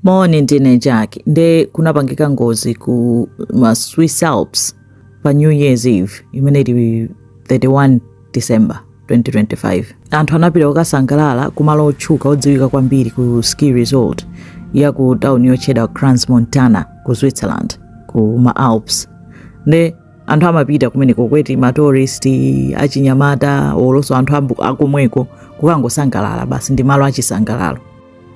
Moni ndine Jack nde kunapangika ngozi ku ma Swiss Alps pa New Year's Eve imene ili 31 December 2025. Anthu anapita kukasangalala ku malo otchuka odziwika kwambiri ku ski resort ya ku tauni yotchedwa Crans Montana ku Switzerland ku ma Alps. Nde anthu amapita kumeneko kwa eti matourist achinyamata olonso anthu ambu- akomweko kukangosangalala basi ndi malo achisangalalo.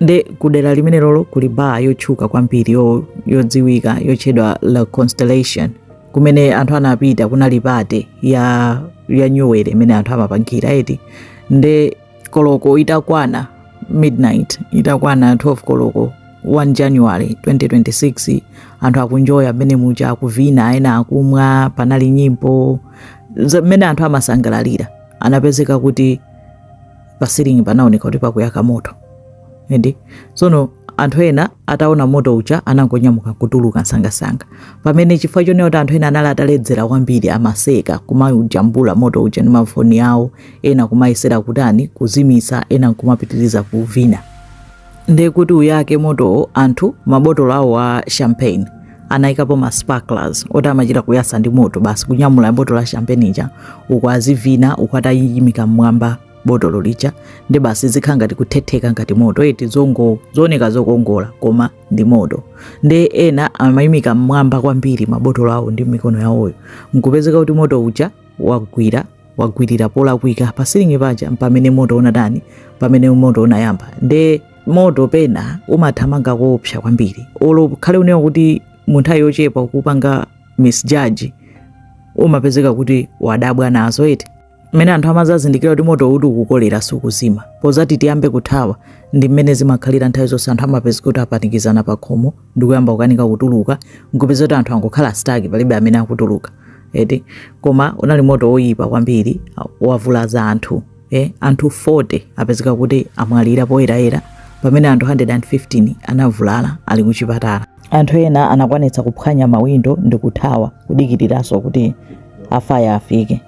nde kudera limenelolo kuli baa yotchuka kwambiri yo- yodziwika yotchedwa la constellation kumene anthu anapita kunali pate ya ya New Year imene anthu amapangira eti nde koloko itakwana midnight itakwana 12 koloko 1 january 2026 anthu akunjoya mmene muja akuvina ena akumwa panali nyimbo za- mmene anthu amasangalalira anapezeka kuti pa ceiling panaoneka kuti pakuyaka moto and tsono anthu ena ataona moto uja anangonyamuka kutuluka msangamsanga pamene chifukwa chonena kuti anthu ena anali ataledzera kwambiri amaseka kumayujambula moto uja ndi mafoni awo ena kumayesera kutani kuzimitsa ena nkumapitiriza kuvina ndiye kuti uyake motowo anthu mabotolo awo a champagne anayikapo ma sparklers oti amachita kuyasa ndi moto basi kunyamula botolo la champagne ija uku azivina uku atayimika mmwamba botolo lija ndi basi zikhala ngati kuthetheka ngati moto eti zongo zooneka zokongola koma ndi moto nde ena amayimika mmwamba kwambiri mabotolo awo ndi mikono yawoyo nkupezeka kuti moto uja wagwira wagwirira polakwika pa silingi paja mpamene moto unatani pamene moto unayamba nde moto pena umathamanga koopsa kwambiri olo khale unewa kuti munthawi yochepa kupanga misjudge umapezeka kuti wadabwa nazo eti mmene anthu amazazindikira kuti moto uti ukukolera sukuzima mpozati tiyambe kuthawa ndi mmene zimakhalira nthawi zonse anthu amapezeka kuti apanikizana pa khomo ndikuyamba kukanika kutuluka nkupeza kuti anthu angokhala stuck palibe amene akutuluka eti koma unali moto woyipa kwambiri wavulaza anthu eh, anthu 40 apezeka kuti amwalira poyerekeza pamene anthu 115 anavulala ali kuchipatala anthu ena anakwanitsa kuphwanya mawindo ndi kuthawa kudikiriranso kuti afaya afike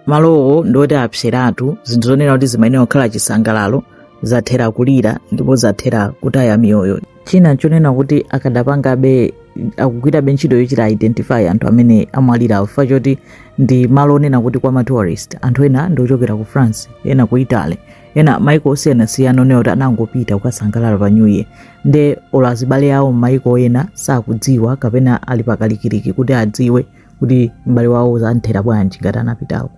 malowo ndi oti apseratu zinthu zonena kuti zimayenera kukhala chisangalalo zathera kulira ndipo zathera kutaya miyoyo china chonena kuti akadapangabe akugwirabe ntchito yochita identify anthu amene amwalirawo chifukwa choti ndi malo onena kuti kwa matourist anthu ena ndi ochokera ku france ena ku italy ena maiko osiyanasiyana onena kuti anangopita kukasangalala pa new year nde olo azibale awo m'maiko ena sakudziwa kapena ali pakalikiliki kuti adziwe kuti m'bale wawo zamuthera bwanji ngati anapitako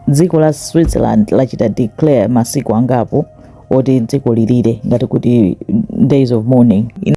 dziko la switzerland lachita declare masiku angapo oti dziko lilire ngati kuti days of mourning